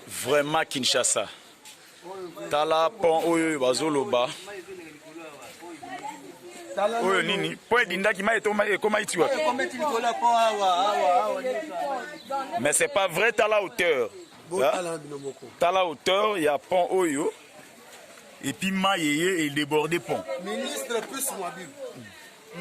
Vraiment Kinshasa. Tala pont oyo bazoloba. Oyo nini? Po edindaki mai etoma ekoma iti wapi? Mais c'est pas vrai tala hauteur. Hein? Tala hauteur ya pont oyo. Et puis mai eye e déborder pont. Ministre plus mobile.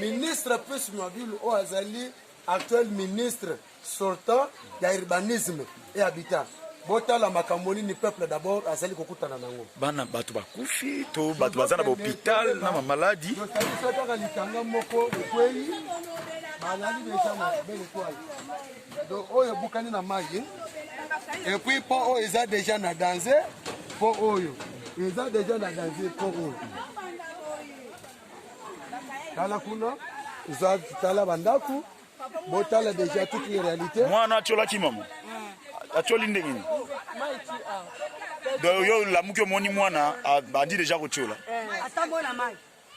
Ministre Pius Mwabilu oyo azali actuel ministre sortant ya urbanisme et habitat botala makambo nini peuple d'abord azali kokutana nango bana bato bakufi to bato baza na bahopital na bamaladi totalisa kaka litanga moko ekwei balali deja na belle etoile donc oyo ebukani na mai epuis mpo oyo eza deja na danse mpo oyo eza deja na danse mpo oyo tala kuna eza tala bandako botala deja toute les réalité mwana atiolaki mama atioli ndenge nini donc yo olamuki omoni mwana abandi deja kotiola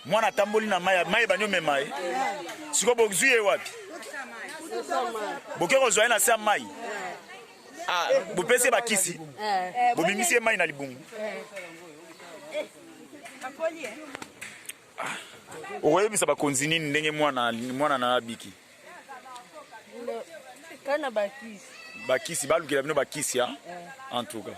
mwana atamboli na mai mai ebandi omema ye sikoyo bozwi ye wapi boke kozwa ye na se ya mai ah, bopesi ye bakisi eh. bobimisi ye mai na libungu eh. Ah, okoyebisa bakonzi nini ndenge mwana mwana na abiki kana bakisi bakisi balukela bino bakisi ya eh. en tout cas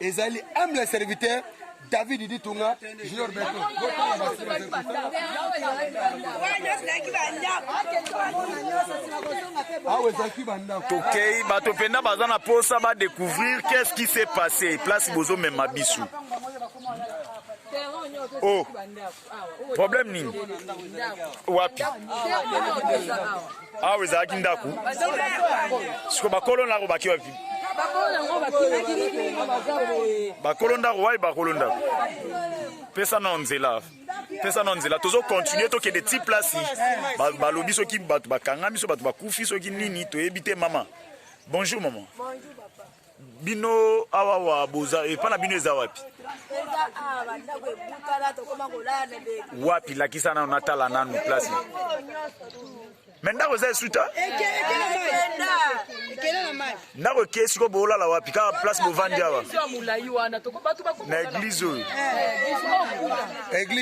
ezali humble serviteur david ditunga junior beto tokei bato mpenza baza na mposa badecouvrir qu'est-ce qui s'est passé place bozomema biso oh. problème nini wapi awa ezalaki ndako siko bakolo ndako baki wapi bakolo ndako wapi bakolo ndako pesa na nzela pesa na nzela tozo continue tokende ti place balobi soki bato bakangami so bato bakufi soki nini toyebi te mama bonjour maman bino awa wa boza epa na bino eza wapi wapi lakisa nanu natala nanu place me ndako eza esuta ndako eke siko boolala wapi kaka place bovandi awa na eglize oyo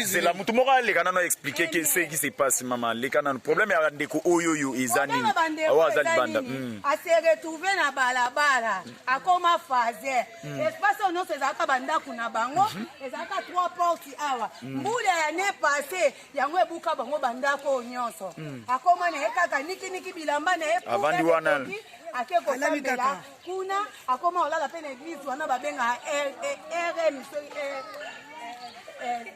zela motu moko aleka nano explike ke seki se passe mama leka nano problème ya ndeko oyo oyo eza nini awa aza libanda hmm. a se retrouve na balabala akoma faze mm. espace oyo nyonso ezalaka bandako na bango mhm. ezalaka trois porte awa mm. mbula ya ne passe yango ebuka bango bandako oyo nyonso mm. akoma na ye kaka nikiniki bilamba na ye avandi wana ake kosambela kuna akoma kolala mpe na eglise wana babengaka rm soki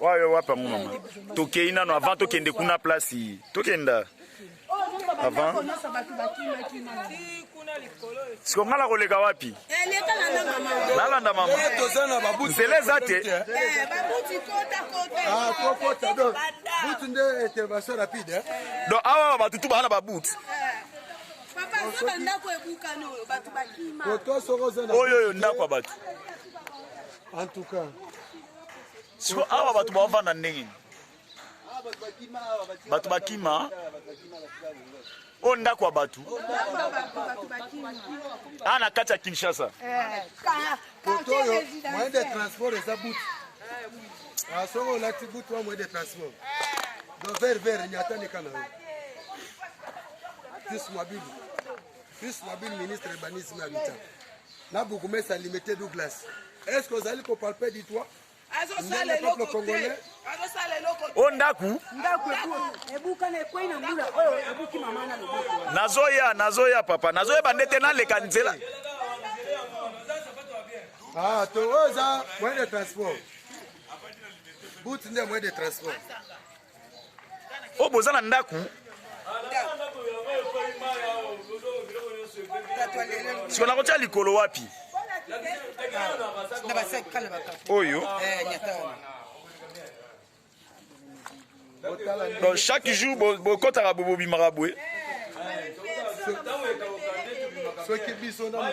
wayo wapa ngo mama tokei nano avant tokende kuna place tokenda avant siko ngai nakoleka wapi nalanda mama nzela eza te donc awa bato tu baa na babuti oyo oyo ndako ya bato En tout cas. Siko awa bato bavanda ndenge nini? Bato bakima. Oyo ndako ya bato. Awa na kati ya Kinshasa. Moto eh, oyo moyen de transport eza butu. Ah, soki olati butu wa moyen de transport. Donc vert vert nyata nika na yo. Fils Mabibu. Fils Mabibu ministre urbanisme habitat. na bourgmestre ya limete douglas est ce que ozali kopalpe du toit azosala eloko te azosala eloko te o ndako ndako ebukana ekwei na mbula oyo ebuki mama na loboko nazoya nazoya papa nazoyeba nde te naleka nzela ah to oyo eza moyen de transport but nde moyen de transport oyo oh, boza na ndako siko nakotya likolo wapi oyo eh, donc chaque jour bokotaka bobobimaka boye soki biso na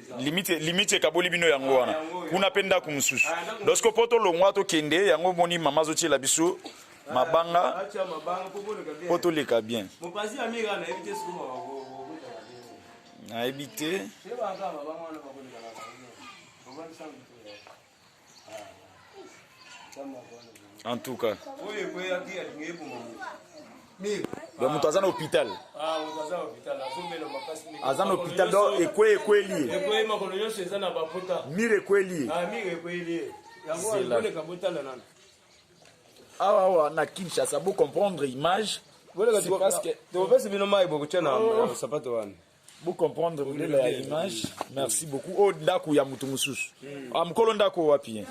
limite limite ekaboli bino yango wana kuna mpe ndako mosusu lorsque mpo tolongwa tokende yango omoni mama azotyela biso mabanga mpo toleka bien nayebi te en tout cas donc moto aza na hôpital aza na hôpital donc ekwe ekweli ye mir ekweli ye awa awa na kinshasa bo comprendre image tokopesi bino mai bokotya na sapato wana Vous comprenez vous voulez la image. Merci beaucoup. Oh, ndaku ya mutu mususu. Hmm. Ah, mkolo ndaku wapi? Hein?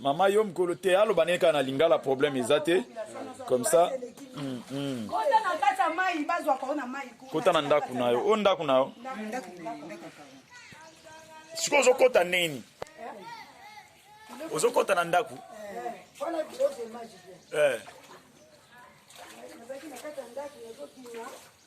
Mama yo mkolo te alo baneka na lingala problème ezate. Comme ça. Mm, mm. Kota na ndaku na yo. O oh, ndaku na yo. Siko ozo kota nini? Ozo kota na ndaku? Eh. Eh.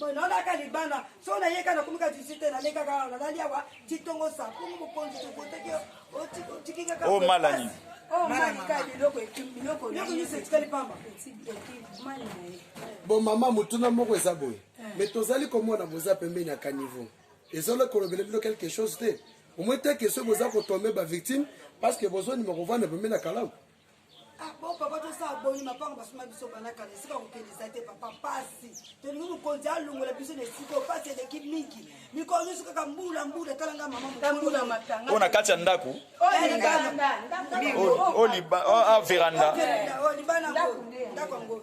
boye naolaka libanda so nayeka nakomika jusi te naleka kaka nalali awa titongo sapongo mokonzi tokoteki otiki kaka o mala nini bon mama motuna moko eza boye me tozali komona boza pembeni ya caniveau ezali kolobela bino quelque chose te omoi te ke soki boza kotombe bavictime parce que bozondima kovanda pembeni ya kalamu Ah, bon papa tosala boni mapango basuma biso bana kala esika kokende eza te papa pasi tolingi mokonzi alongola biso na esika oyo pasi eleki mingi mikolo nyonso kaka mbula mbula tala nga mama mbula matanga oyo na kati ya ndako o veranda ndako yango ndako yango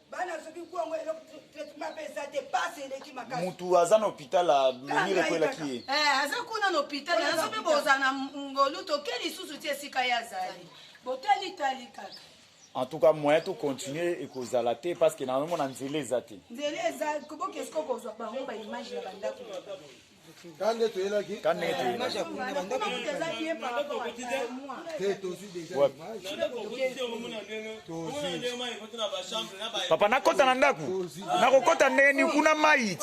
bana soki kongo eloko traitement mpe eza te pasi eleki makasi mutu aza na hôpital amemire ekwelaki ye eh, aza kuna na hôpital aza mpe boza na ngolu toke lisusu ti esika ye azali botali tali kaka en tout cas moyen to continuer ekozala te parce que naomona nzela eza te nzela eza kobokesiko kozwa bango baimage na bandako kande toyelaki kande toyelaki papa nakota na ndako nakokota ndenge ni kuna mai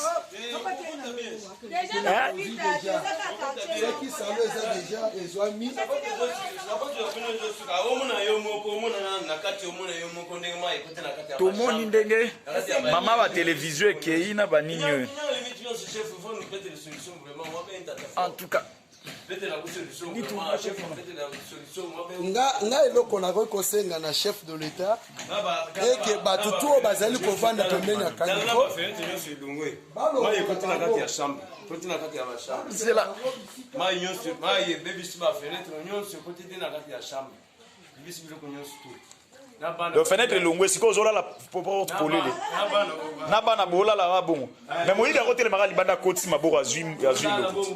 tomoni ndenge mama ba televizio ekei na banini oyo en tout cas nga eloko nakoki kosenga na chef de l'etat eke bato to oyo bazali kovanda pembeni ya kaniko zela donc fenetre elongwe sikoyo ozolala polele na bana bolala na bongo me moyidi yango telemaka libanda akotisi maboko azwi lokuti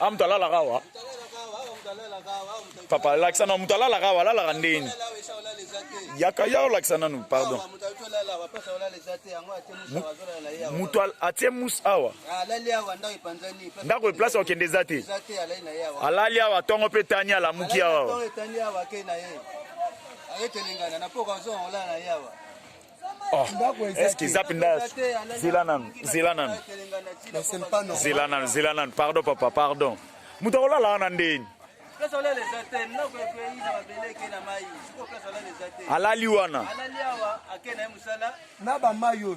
a ah, moto alalaka awa papa lakisa na moto alalaka awa alalaka ndeni yaka ya olakisa nanu pardon moto atie mus awa ndako eplace okende eza te alali awa ntongo mpe tani alamuki awa Oh, est-ce que zap nda zela nanu zela nanu zela nanu zela nanu pardon papa pardon moto akolala wana ndeni alali wana na bamai oyo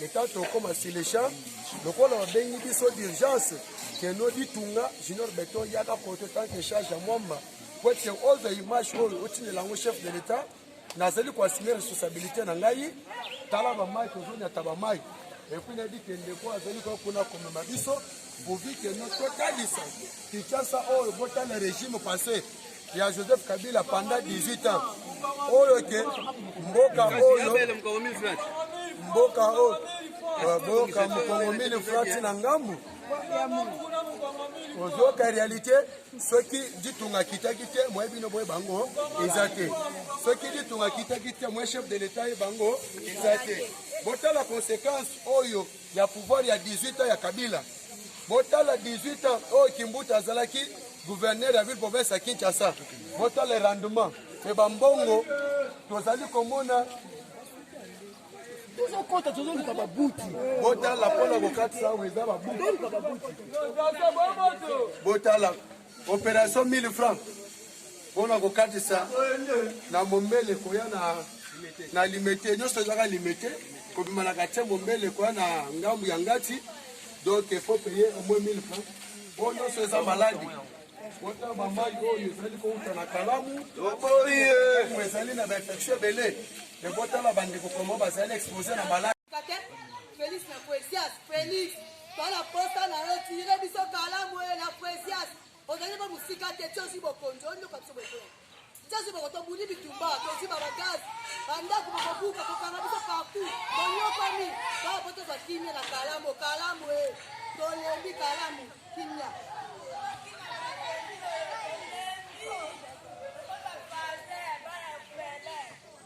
le temps tokoma sur le champ lokola babengi biso d'urgence keno ditunga junior beton yaka poto tant que charge ya mwamba po ete all the image oyo otindela yango chef de l'état nazali koassume responsabilité na ngai tala bamai tozonyata bamai epuis nayebi ke ndeko azali koya kuna komema biso Bovikeno totalisa Kinshasa oyo botala regime passé ya Joseph Kabila pendant 18 ans oyo ke mboka oyo mboka oyo boyoka mokongo mini frati na ngambu ozoyoka réalité soki ditunga akitaki te moye bino boye bango eza te soki ditunga akitaki te moye chef de l'état ye bango eza te botala conséquence oyo ya pouvoir ya 18 ans ya Kabila. Botala 18 ans oyo oh, Kimbuta azalaki gouverneur ya ville province ya Kinshasa. Botala rendement mpe bambongo tozali komona tozokota tozoluka babuti botala mpo na kokatisa awa eza babuti botala Operation 1000 francs mpona kokatisa na mombele koya na na limete nyonso ezaka limete kobima na katie mombele koya na ngambu ya ngati donc il faut payer au moins 1000 francs oyo nyonso eza maladi wata bamai oyo ezali kouta na kalamu ezali na bainfection ebele ebotala bandeko komo bazali expose na maladi Felix na Poesias, Felix, tala posa na yo tire biso kalamu ye na Poesias. Ozali ba musika te tiosi bokonzi oyo ndoka biso bokonzi. Tiosi bokonzi tobuni bitumba, tozwi ba bagazi, ba ndako bokobuka kokanga biso partout. Tonyokami, ba po tozwa kimia na kalamu, kalamu ye. Tolembi kalamu, kimia.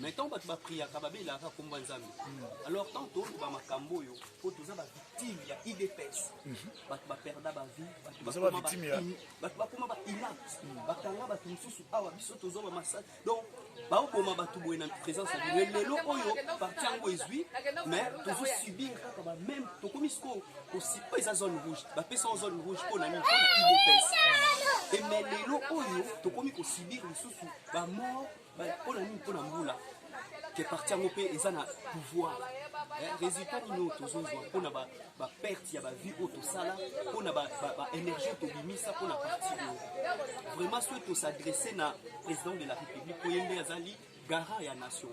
mais ntango bato bapriaka babelaka kaka nkombo ya nzambe alors ntango toloba makambo oyo mpo toza bavictime ya idps mhm. bato baperda bavie bato bakoma bainapte mhm. bakanga bato mosusu awa biso toza bamasaki donc baoboma bato boye na présence ya bino lelo oyo parti yango ezwi mais tozosubir kaka bameme tokomi sikoyo oyo eza zone rouge bapesa o zone rouge mpo na nini mpo na idps eme lelo oyo tokomi kosubir lisusu bamort mpo na nini mpo na mbula ke parti yango mpe eza na pouvoir eh, résultat nini oyo tozozwa mpo na baperte ya bavie oyo tosala mpo na baénergie tobimisa mpo na parti oyo vraiment soki tosadresse na président de la république oye nde azali garant ya nation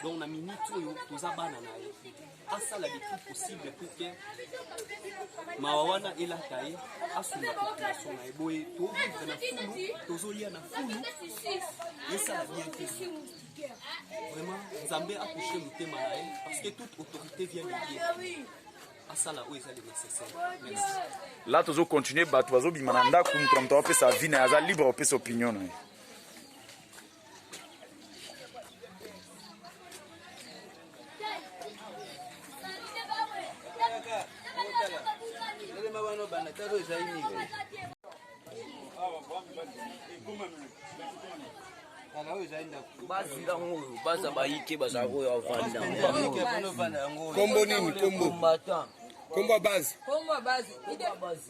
donc na minute oyo toza bana na ye asala le tout possible pour que mawa wana elata ye asunga population na ye boye tovivre na fulu tozolia na fulu esala bien te vraiment nzambe akouche motema na ye parce que toute autorité vient de dieu asala oyo ezali nécessaire merci la tozo continuer bato bazobima na ndako moto na moto apesa vie na ye aza libre apesa opinion na ye bazinga yango oyo baza bayike baza oyo avanda kombo nini kombo kombo ya base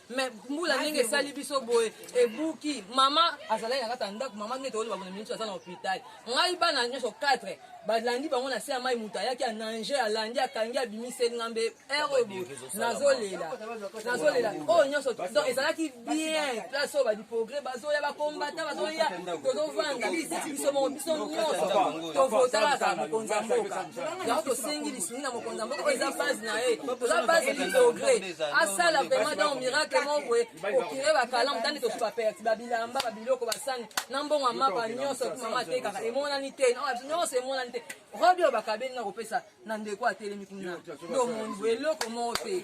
me mbula ndenge esali biso boye ebuki mama azalaki na kati ya ndako mama nde toyeba bona miniso aza na hôpital ngai bana nyonso 4 balandi bango na se ya mai moto ayaki anange alandi akangi abimiseli nga mbe ere oyo boye nazolela nazolela oyo nyonso donc ezalaki bien place oyo badiprogre bazoya bakombata bazoya tozovanda biso moko biso nyonso tovotalaka mokonzi ya mboka yango tosengi Tungi na mokonzi ya mboka oyo eza base na ye oza base lidogre asala vraiment donc miracle moko boye okire bakalamu tandi tosu baperti babilamba babiloko basani na mbongo ya mapa nyonso ekuti mama atekaka emonani te nyonso emonani te robi oyo bakabeli na kopesa na ndeko atelemi kuna ndomoni boye eloko moko te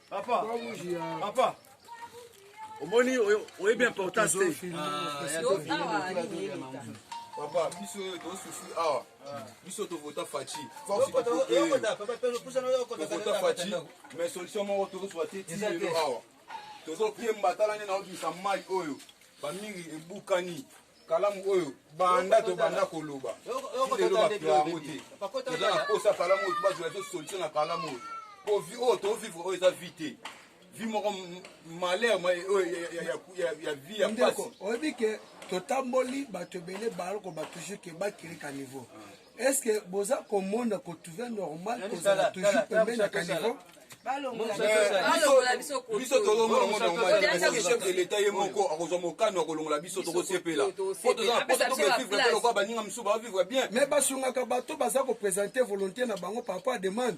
Papa, papa, omoni oyebi importance te. Papa, biso oyo tosusu awa, biso tovota Fachi. Tovota Fachi, mais solution moko tozozwa te ti lelo awa. Tozokemba tala nde naobimisa mai oyo bamingi ebukani kalamu oyo banda tobanda koloba lelo bato yango te toza na mposa kalamu oyo tobazela to solution na kalamu oyo po vi oyo tovivre oyo eza vi te vi moko malheur ya vi ya pasi oyebi ke totamboli bato ebele baloko batouche ke bakiri ka niveau Est-ce que boza komona ko trouver normal kozala toujours pembeni ya caniveau biso tolongola ngo normalchef de l'état ye moko akozwa mokano ya kolongola biso tokosepela po toza na posa tokevivre te lokola baninga mosusu baovivre bien mais basungaka bato baza kopresente volonté na bango par rapport ya demande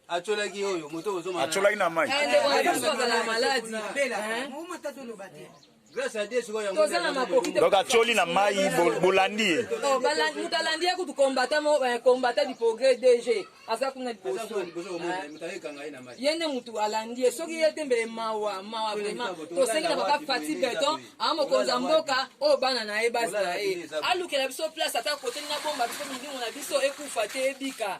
acolaki oyo moto ozoma acolaki na mai toza na makoki donc acoli na mai bolandi ye oh, moto alandi ye kutu combatant eh, du progrès dg aza kuna liboso eh. ye nde motu alandi ye soki ye te mbele mawa mawa vraiment tosengi na papa fati beton aa mokonzi ya mboka oyo bana na ye bazala ye alukela biso place ata kote na bomba biso milimo na biso ekufa te ebika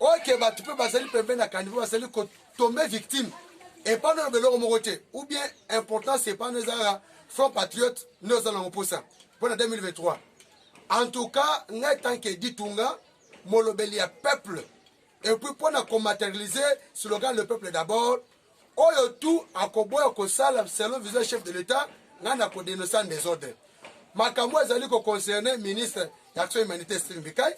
oke bato mpe bazali pembeni na kanivo bazali kotombe victime epano na beloko moko te ou bien importance epano ezalaka front patriote nde oza nango mposa mpo na 2023 en tout cas ngai tanke ditunga molobeli ya peuple epuis mpo na komaterialise slogan le peuple d'abord Oyo tout akoboya kosala selon vision chef de l'etat ngai na ko denoncer desordre. Makambo azali ko concerner ministre ya action humanitaire Steve Mbikai,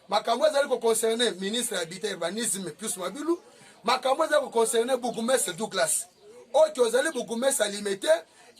makambo azali ko concerner ministre ya habitat urbanisme Pius Mabilu, makambo azali ko concerner bourgmestre Douglas. Oyo ozali bourgmestre alimete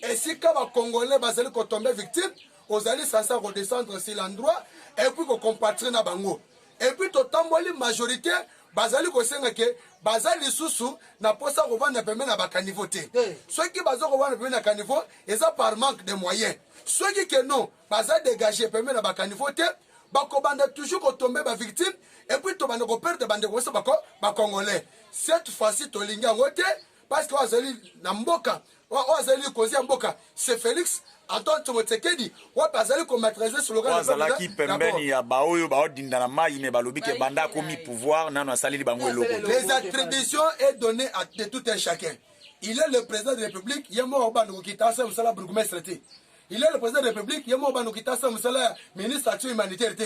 esika ba congolais bazali ko tomber victime, ozali sasa ko descendre sur l'endroit et puis ko compatir na bango. Et puis totamboli majorité bazali kosenga ke baza lisusu na mposa ya kovanda pembeni na bakanivo te soki baza kovanda pembeni na kanivo eza par manque de moyen soki ke non baza dégage pembeni na bakanivo te bakobanda toujours kotombe bavictime epuis tobanda koperdre bandeko biso bakongolais cette fois-ci tolingi yango te parce que oyo azali na mboka oyo azali likonzi ya mboka se félix antoine tsongo tsekedi wapi azali komatralize slogan azalaki pembeni ya baoyo baodinda na mai me balobi ke banda akomi pouvoir nano asaleli bango eloko les attributions est donné à de tout un chacun il est le président de la république ye moko bandokokita asala mosala bourgmestre te Il est le président de la République, il est mort bando kita sa musala ministre action humanitaire te.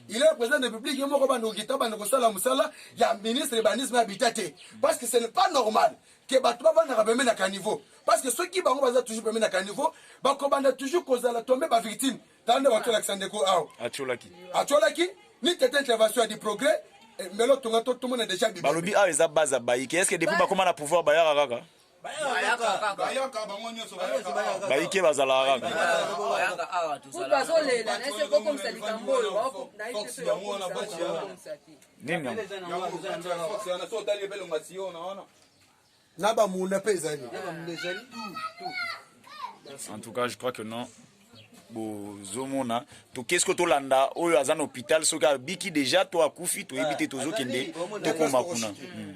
Il est le président de la République, il est mort bando kita bando kosala musala ya ministre urbanisme habitat te. Parce que ce n'est pas normal que bato bavandaka pembe na caniveau. Parce que soki bango baza toujours pembe na caniveau, bakobanda toujours kozala tombe ba victime. Tande bato la kisande ko awa. Atiolaki. Atiolaki ni tete intervention ya du progrès eh, mbelo tonga to tomona déjà bibi. Balobi awa eza baza baike. Est-ce que depuis bakoma na pouvoir bayaka kaka? bayike bazalaka na bamunda mpe ezali en tout cas je crois que non bozomona toke soki tolanda oyo aza na hôpital soki abiki déjà to akufi toyebi te tozokende tokoma kuna hmm.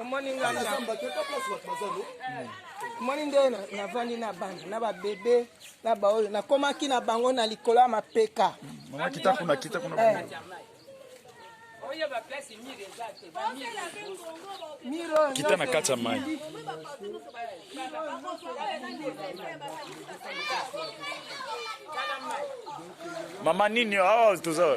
omoni nga omoni nde navandi na bana na babebe na baoyo nakomaki na bango na likolo ya mapeka kita na kati ya mai mama nini awa toza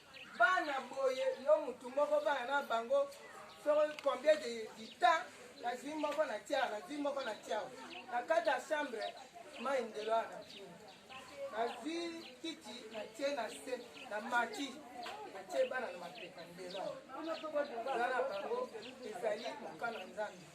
Bana boye yo mutu moko bana na bango soko combien de temps nazwi moko na tiawa nazwi moko na tiawa na kati ya chambre mai ndelo wana kini nazwi kiti natie na se na mati natie bana na mapeka ndelo wana na bango ezali mokano ya nzambe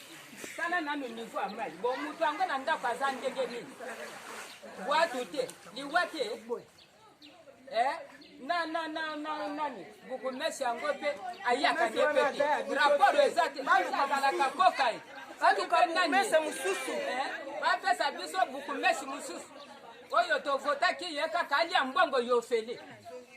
Tala nanu niveau ya mai. Bon moto yango na ndako aza ndenge nini? Bwatu te, liwa te. Eh? na na na na nani bukumesi yango mpe ayaka nde mpe te rapport eza te azalaka koka ye balukananimese mosusu eh? bapesa biso bukumesi mosusu oyo tovotaki ye kaka alia mbongo yofele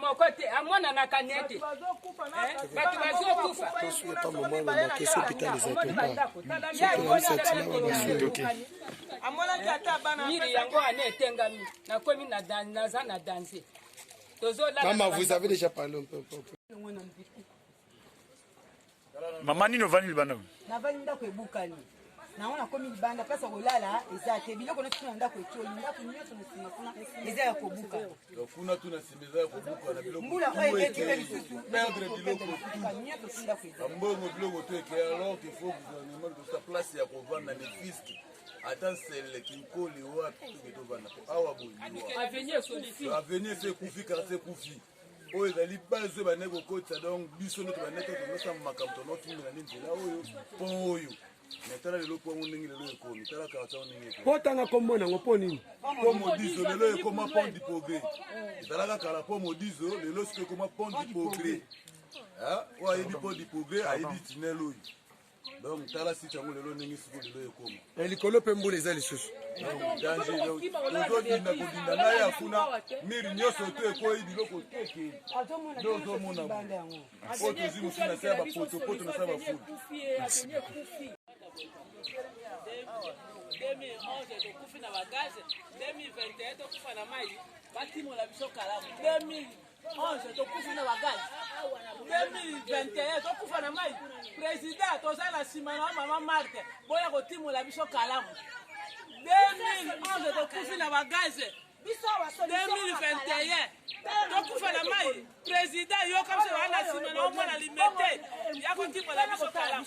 moko te amonanaka nete eh, bato bazokufa amonaki ata banamiri yango wana etengami nakomi naza na danse tozolaa mama nini ovandi libanda navandi ndako ebukani nango nakomi libanda place ya kolala eza te biloko nyonso na ndako etoli ndako nyonso na nsima kuna eza ya kobuka kuna tu na nsima eza ya kobuka na biloko mbula oyo eleki mpe lisusu perdre biloko nyonso tu ndako eza mbongo biloko to eke alors qu'il faut gouvernement kosa place ya kovanda ne fiske ata nsele kinkoli wapi toke tovanda po awa boyeaveni ese ekufi karse ekufi oyo ezali base oyo bandaki kokotisa donc biso nde tobandaki tonosanga makambo tonokimbela nde nzela oyo mpo oyo me tala lelo mpo yango ndenge lelo ekomi tala karata yango ndenge ekomi botanga kombo nango mpo nini mpo modizo lelo ekoma pont du progrès ezalaka kala mpo modizo lelo siko ekoma pont du progrès oyo ayebi pont du progrès ayebi tinel oyo donc tala site yango lelo ndenge siko lelo ekoma eh, likolo mpe mbula eza lisusu ozodinda kodinda na ya kuna miri nyonso to ekweyi biloko teke nde ozomona oyo tozwi mosu na se ya bapotopoto na se ya bafulu tokufi na bagaze 2021 tokufa na mai batimola biso kalamu 2000 11 tokufi na bagaz 2021 tokufa na mai président toza na nsima na mama marte boya kotimola biso kalamu 2011 tokufi na bagaz 2021 tokufa na mai président yoka biso wana nsima na omwana limete ya kotimola biso kalamu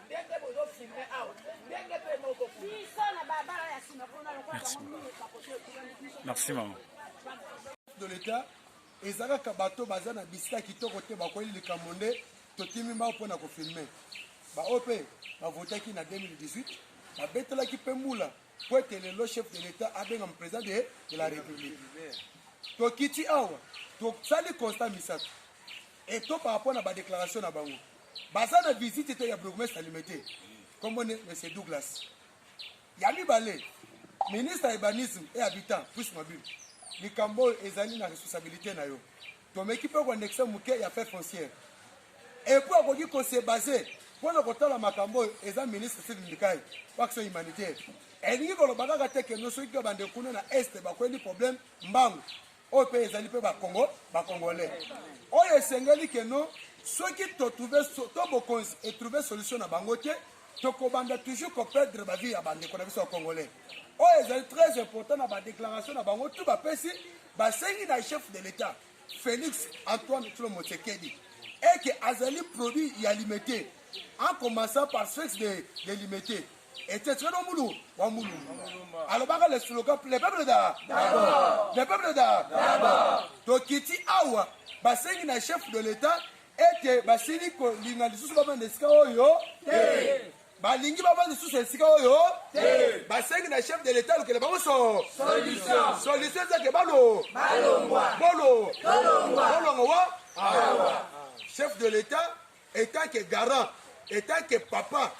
ndenge bozo filme awa ndenge mpe moko biso na babala ya nsima mpona lokola bango mingi kakote merci mama de l'état eza kaka bato baza na bisika kitoko te bakweli likambo nde totimi bango mpona kofilme baoyo mpe bavotaki na 2018 babetelaki mpe mbula mpo ete lelo chef de l'état abengama président de, de la république tokiti awa tosali constat misato eto par rapport na badéclaration na bango baza na visite te ya bourgmestre limete kombo ne monsieur douglas ya mibale ministre ya urbanisme et habitant plus mabile likambo oyo ezali na responsabilité na yo tomeki mpe koandexe moke ya fait foncière epuis akoki kose base mpo na kotala makambo oyo eza ministre sidi ndikai po action humanitaire elingi koloba kaka te keno soki kaka bande kuna na este bakweli problème mbangu oyo mpe ezali mpe bakongo bakongole oyo esengeli keno soki totrouve to bokonzi etrouve solution na bango te tokobanda toujours koperdre bavi ya bandeko na biso ya congolais oyo ezali très important na badéclaration na bango tu bapesi basengi na chef de l'état félix antoine tlo motsekedi eke azali produit ya limete en commençant par sexe de, de limete Ete tshelo mulu wa mulumba alobaka le slogan le peuple da d'abord le peuple da d'abord tokiti awa basengi na chef de l'etat ete basili kolinga lisusu bavanda esika oyo te balingi bavanda lisusu esika oyo te basengi na chef de l'etat alukela bango so solution solution ezake balo balongwa bolo tolongwa bolongwa wa awa chef de l'etat etant que garant etant que papa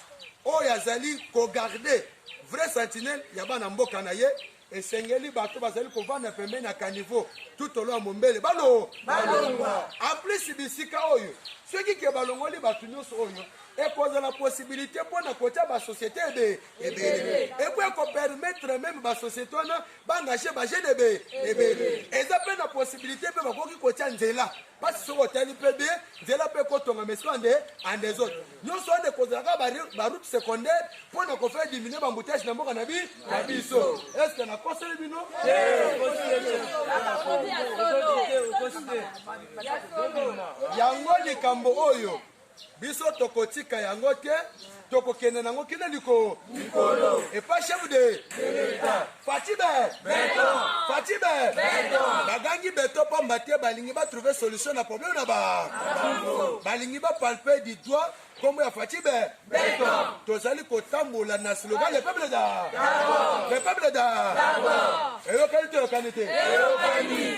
oyo azali kogarde vrai sentinelle ya bana mboka na ye esengeli bato bazali kovanda pembeni ya kanivo tutolo ya mombele balo balongwa aplisi bisika oyo soki ke balongoli bato nyonso oyo ekozala posibilité mpo na kotya basociété ebe ebele epo ekopermettre meme basociété wana baengage bagene ebe ebele eza mpe na posibilité mpe bakoki kotya nzela pasi soki otali mpe be nzela mpe kotonga mais soki ande ande ezote nyonso wana ekozalaka baroute secondaire mpo na kofai diminue bambutage na mboka na bi na biso estce nakoseli bino yango likambo oyo biso tokotika yango te tokokende nango kino likolo likolo epa chef de l'etat fatibe beton fatibe beton bagangi beton pamba te balingi ba trouver solution na problème na ba balingi ba palper du doigt kombo ya fatibe beton tozali kotambola na slogan le peuple da le peuple da eyokani toyokani te eyokani